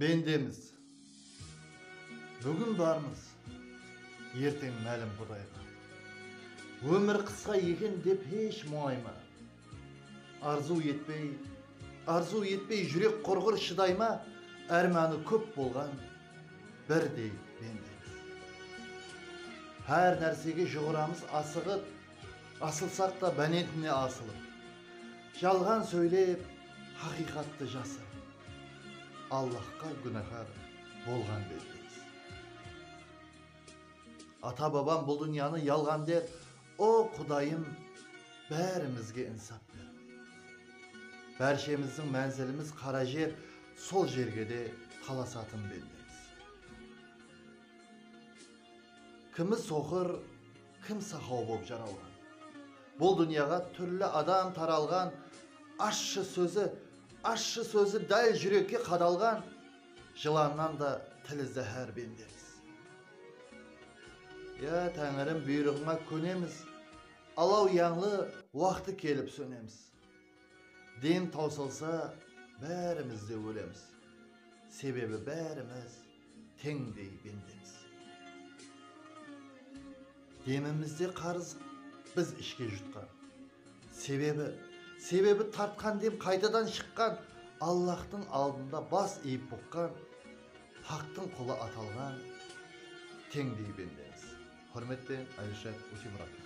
Bendemiz, búgin barmız, erteń málim Qudayǵa. Ómir qısqa eken dep hesh muńayma. Arzıw etpey, arzıw etpey júrek qurǵır shıdayma, ármanı kóp bolǵan birdey bendemiz. Hár nársege juǵıramız asıǵıp, asılsaq ta bánentine asılıp. Jalǵan sóylep. Haqıyqattı jasırıń. Allahqa gúnahar bolǵan bettemiz. Ata babam bul dúnyanı yalǵan der O Qudayım bárimizge insap ber. Bárshemizdiń mánzilimiz qara jer sol jerge de talasatın bettemiz. Kimi soqır. Kim saqaw bolıp jaralǵan? Bul dúnyaǵa túrli adam taralǵan, Ashshı sózi, ashshı sózi dál júrekke qadalǵan, Jılannan da tili záhár bendemiz. Ya Táńirim buyrıǵıńa kónemiz, Alaw yańlı waqtı kelip sónemiz. Dem tawsalsa bárimiz de ólemiz, sebebi bárimiz teńdey bendemiz. Demimizde qarız biz ishke jutqan, sebebi sebebi tartqan dem qaytadan shıqqan, Allahtıń aldında bas iyip buqqan, Haqtıń qulı atalǵan teńdey bendemiz. Húrmetpen Alisher Usimuratov.